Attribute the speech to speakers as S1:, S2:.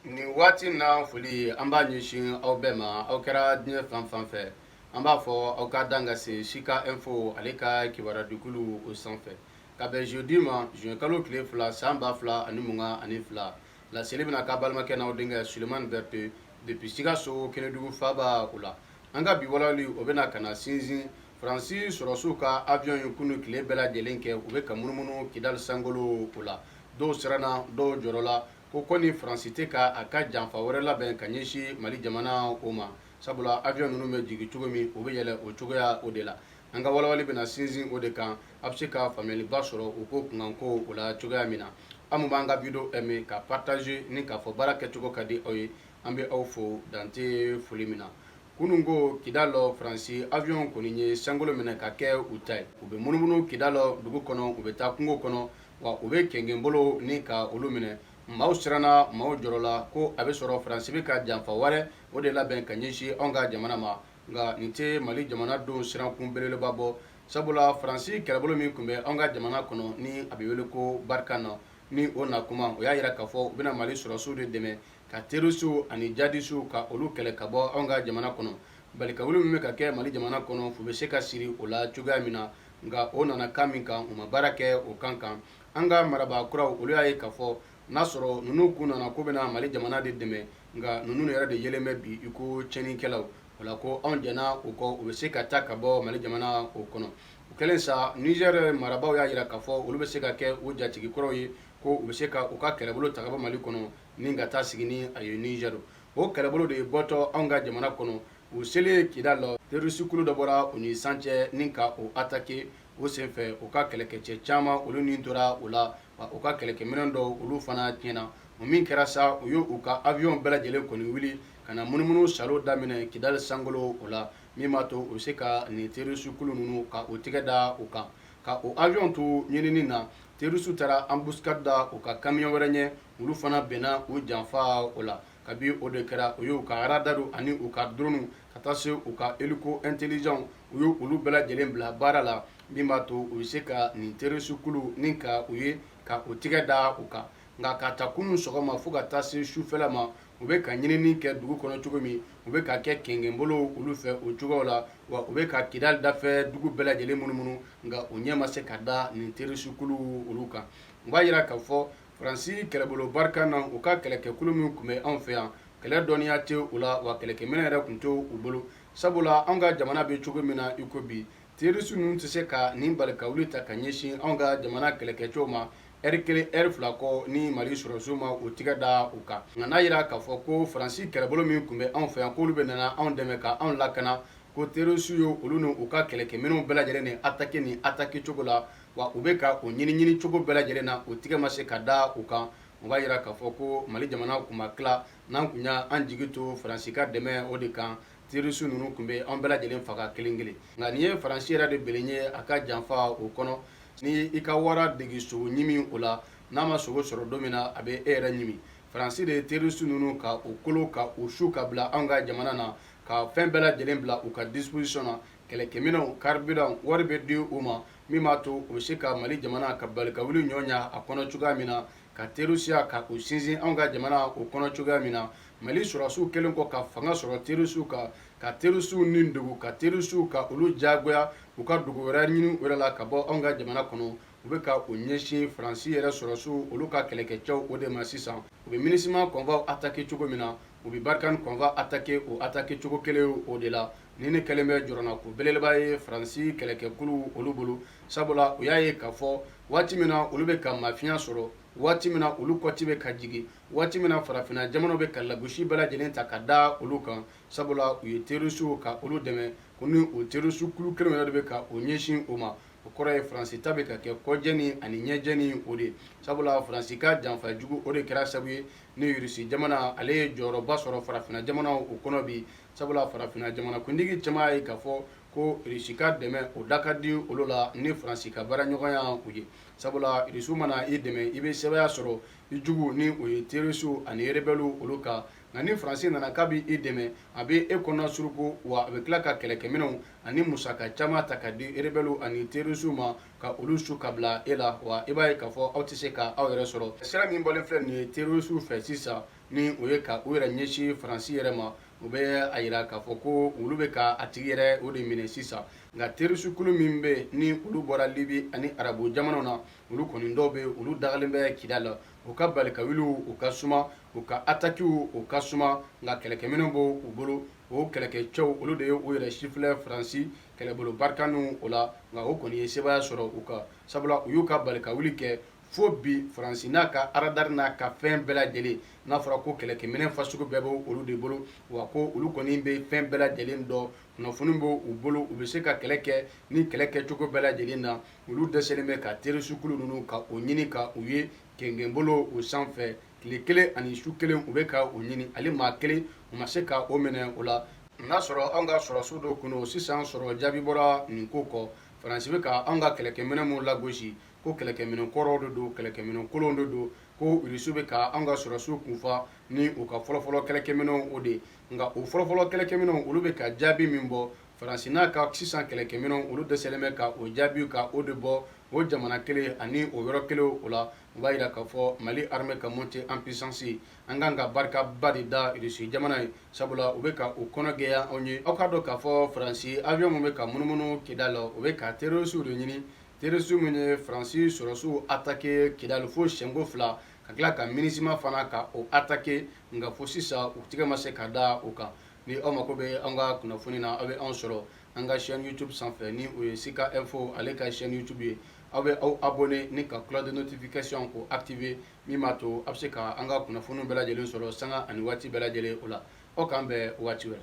S1: nin waati in na foli an b'a ɲɛsin aw bɛɛ ma aw kɛra diɲɛ fan fan fɛ an b'a fɔ aw ka dan ka se sika info ale ka kibarudikulu o sanfɛ ka bɛn jeudi ma juin kalo tile fila san ba fila ani mugan ani fila laseli bɛna k'a balimakɛ n'aw denkɛ sulemani berete depuis sikaso kɛnɛdugu faaba o la an ka bi walawali o bɛna ka na sinsin faransi sɔrɔsiw ka avion ye kunu tile bɛɛ lajɛlen kɛ u bɛ ka munumunu kidali sankolo o la dɔw siranna dɔw jɔrɔla ko kɔni faransi tɛ k' a ka janfa wɛrɛ labɛn ka ɲɛsin mali jamana o ma sabula avion ninnu bɛ jigin cogo min u bɛ yɛlɛ o cogoya o de la an ka walawali bɛna sinsin o de kan a bɛ se ka faamuyaliba sɔrɔ o ko kunkanko o la cogoya min na aw b'an ka video aimer ka partager ni k'a fɔ baara kɛcogo ka di aw ye an bɛ aw fo dan tɛ foli min na kunun ko kidali faransi avion kɔni ye sankolo minɛ ka kɛ u ta ye u bɛ munumunu kidali dugu kɔnɔ u bɛ taa kungo kɔnɔ wa u bɛ kɛnkɛnbolow ni ka olu minɛ maaw siranna maaw jɔrɔla ko a bɛ sɔrɔ faransi bɛ ka janfa wɛrɛ o de labɛn ka ɲɛsin anw ka jamana ma nka nin tɛ mali jamanadenw sirankun belebeleba bɔ sabula faransi kɛlɛbolo min tun bɛ an ka jamana kɔnɔ ni a bɛ wele ko barkhane ni o na kuma u y'a jira k'a fɔ u bɛna mali sɔrɔsiw de dɛmɛ ka terorisiw ani jihadisiw ka olu kɛlɛ ka bɔ anw ka jamana kɔnɔ balikawuli min bɛ ka kɛ mali jamana kɔnɔ fu bɛ se ka siri o la cogoya min na nka u nana kan min kan u ma baara kɛ o kan kan an ka marabaa kuraw olu y'a ye k'a fɔ n'a sɔrɔ ninnu kun nana k'u bɛna mali jamana de dɛmɛ nka ninnu yɛrɛ de yelen bɛ bi i ko cɛnikɛlaw o la ko anw jɛnna u kɔ u bɛ se ka taa ka bɔ mali jamana o kɔnɔ o kɛlen sa nizɛri marabaaw y'a jira k'a fɔ olu bɛ se ka kɛ u jatigi kuraw ye ko u bɛ se ka u ka kɛlɛbolo ta ka bɔ mali kɔnɔ ni ka taa sigi ni a ye nizɛri o kɛlɛbolo de bɔtɔ anw ka jamana kɔnɔ U selen kidali la terorisikulu dɔ bɔra u ni san cɛ ni ka u attaquer o senfɛ u ka kɛlɛkɛcɛ caman olu ni tora o la wa u ka kɛlɛkɛminɛn dɔw olu fana tiɲɛna o min kɛra sa u y' u ka avion bɛɛ lajɛlen kɔni wuli ka na munumunu saalo daminɛ kidali sankolo o la min b'a to u bɛ se ka nin terorisikulu ninnu ka u tɛgɛ da u kan ka u avion to ɲinini na terorisiw taara embuscade da u ka camion wɛrɛ ɲɛ olu fana bɛnna u janfa o la kabi o de kɛra u y'u ka radar ani u ka drone ka taa se u ka hélico intelligent u y' olu bɛɛ lajɛlen bila baara la min b'a to u bɛ se ka nin terorisikulu ni ka u ye ka u tɛgɛ da u kan nka ka ta kunun sɔgɔma fo ka taa se sufɛla ma u bɛ ka ɲinini kɛ dugu kɔnɔ cogo min u bɛ ka kɛ kɛnkɛnbolow olu fɛ o cogo la wa u bɛ ka kidali dafɛ dugu bɛɛ lajɛlen munumunu nka u ɲɛ ma se ka da nin terorisikulu olu kan u b'a jira k'a fɔ Fransi kɛlɛbolo barikani u ka kɛlɛkɛkulu min tun bɛ anw fɛ yan kɛlɛ dɔnniya tɛ u la wa kɛlɛkɛminɛn yɛrɛ tun tɛ u bolo sabula anw ka jamana bɛ cogo min na iko bi terisi ninnu tɛ se ka nin balikawuli ta ka ɲɛsin anw ka jamana kɛlɛkɛcɛw ma ɛri kelen ɛri fila kɔ ni mali sɔrɔsiw ma u tɛgɛ da u kan nka n'a jira k'a fɔ ko faransi kɛlɛbolo min tun bɛ anw fɛ yan k'olu bɛ nana anw dɛmɛ ka anw lakana ko terisiw ye olu ni u ka kɛlɛkɛminɛnw bɛɛ lajɛlen ni ataki ni ataki cogo la wa u bɛ ka u ɲiniɲini cogo bɛɛ lajɛlen na u tɛgɛ ma se ka da u kan o b'a jira k'a fɔ ko mali jamana tun ma tila n'an tun y'an jigi to faransi ka dɛmɛ o de kan terisi ninnu tun bɛ an bɛɛ lajɛlen faga kelen kelen nka nin ye faransi yɛrɛ de binnen ye a ka janfa o kɔnɔ ni i ka wara dege sogo ɲimi o la n'a ma sogo sɔrɔ don min na a bɛ e yɛrɛ ɲimi faransi de ye terisi ninnu ka u kolo ka u su ka bila an ka jamana na ka fɛn bɛɛ lajɛlen bila u ka disipozisiyɔn na kɛlɛkɛminɛnw karibiran wari bɛ di u ma min b'a to u bɛ se ka mali jamana ka balikawuli ɲɔgɔnya a kɔnɔ cogoya min na ka terisiya ka o sinsin anw ka jamana o kɔnɔ cogoya min na mali sɔrɔsiw kɛlen kɔ ka fanga sɔrɔ terisiw kan ka terisiw nidegun ka terisiw ka olu jagoya u ka dugu wɛrɛ ɲini u yɛrɛ la ka bɔ anw ka jamana kɔnɔ u bɛ ka u ɲɛsin faransi yɛrɛ sɔrɔsiw olu ka kɛlɛkɛcɛw o de ma sisan u bɛ minisiman kɔnfaw atake cogo min na u bɛ barikani kɔnfaw atake o atake cogo kelen o de la Ni nin kɛlen bɛ jɔrɔnanko belebeleba ye faransi kɛlɛkɛkulu olu bolo sabula u y'a ye k'a fɔ waati min na olu bɛ ka mafiya sɔrɔ waati min na olu kɔti bɛ ka jigin waati min na farafinna jamanaw bɛ ka lagosi bɛɛ lajɛlen ta ka da olu kan sabula u ye terisiw ka olu dɛmɛ ko ni o terisukulu kelen yɛrɛ de bɛ ka u ɲɛsin u ma o kɔrɔ ye faransi ta bɛ ka kɛ kɔjeni ani ɲɛjeni o de sabula faransi ka janfa jugu o de kɛra sabu ye ni irisi jamana ale ye jɔyɔrɔba sɔrɔ farafinna jamanaw o kɔnɔ bi sabula farafinna jamanakuntigi caman y'a ye k'a fɔ ko irisi ka dɛmɛ o da ka di olu la ni faransi ka baaraɲɔgɔnya o ye sabula irisiw mana i dɛmɛ i bɛ sebaaya sɔrɔ i jugu ni o ye terisiw ani erebɛliw olu kan nka ni faransi nana k'a bɛ i dɛmɛ a bɛ e kɔnɔna suruku wa a bɛ tila ka kɛlɛkɛminɛnw ani musaka caman ta ka di erebɛliw ani terisiw ma ka olu su ka bila e la wa i b'a ye k'a fɔ aw tɛ se ka aw yɛrɛ sɔrɔ sira min bɔlen filɛ nin ye terisiw fɛ sisan ni o ye ka u yɛrɛ ɲɛsin faransi yɛrɛ ma o bɛ a jira k'a fɔ ko olu bɛ ka a tigi yɛrɛ o de minɛ sisan nka terisukulu min bɛ ni olu bɔra libi ani arabu jamanaw na olu kɔni dɔw bɛ olu dagalen bɛ kida la u ka balikawuliw u ka suma u ka atakiw u ka suma nka kɛlɛkɛminɛnw b'u bolo o kɛlɛkɛcɛw olu de ye u yɛrɛ sifilɛ faransi kɛlɛbolo barikaniw o la nka o kɔni ye sebaaya sɔrɔ u kan sabula u y'u ka balikawuli kɛ fo bi faransi n'a ka aradari n'a ka fɛn bɛɛ lajɛlen n'a fɔra ko kɛlɛkɛminɛ fasugu bɛɛ bɛ olu de bolo wa ko olu kɔni bɛ fɛn bɛɛ lajɛlen dɔn kunnafoni bɛ u bolo u bɛ se ka kɛlɛ kɛ ni kɛlɛ kɛcogo bɛɛ lajɛlen na olu dɛsɛlen bɛ ka terorisikulu ninnu ka o ɲini ka u ye kɛnkɛnbolo o sanfɛ tile kelen ani su kelen u bɛ ka o ɲini hali maa kelen u ma se ka o minɛ o la n'a sɔrɔ anw ka sɔrɔsiw dɔ kun don sisan sɔrɔ jaabi bɔra nin ko kɔ faransi bɛ ka anw ka kɛlɛkɛminɛ minnu lagosi ko kɛlɛkɛminɛ kɔrɔw de don kɛlɛkɛminɛ kolonw de don ko irisi bɛ ka an ka sɔrɔsiw kunfa ni u ka fɔlɔfɔlɔ kɛlɛkɛminɛw o de ye nka o fɔlɔfɔlɔ kɛlɛkɛminɛw olu bɛ ka jaabi min bɔ faransi n'a ka sisan kɛlɛkɛminɛw olu dɛsɛlen bɛ ka o jaabi ka o de bɔ o jamana kelen ani o yɔrɔ kelen o la u b'a jira k'a fɔ mali armée ka montée en puissance an kan ka barikaba de da irisi jamana ye sabula u bɛ ka u kɔnɔ gɛya anw ye aw k'a dɔn k'a fɔ faransi avion minnu bɛ ka munumunu kidal la u bɛ ka terorisiw de ɲini Terroristes minnu ye France sɔrɔsiw attaquer Kidal fo siyɛn ko fila, ka tila ka Minusma fana ka o attaquer nka fo sisan u tɛgɛ ma se ka da u kan. Ni aw mako bɛ an ka kunnafoni na, aw bɛ anw sɔrɔ an ka chaine YouTube sanfɛ, ni o ye Sika Info ale ka chaine YouTube ye. Aw bɛ aw abonner ni ka cloche de notification k'o activer min b'a to aw bɛ se ka an ka kunnafoniw bɛɛ lajɛlen sɔrɔ sanga ani waati bɛɛ lajɛlen o la. Aw k'an bɛn waati wɛrɛ.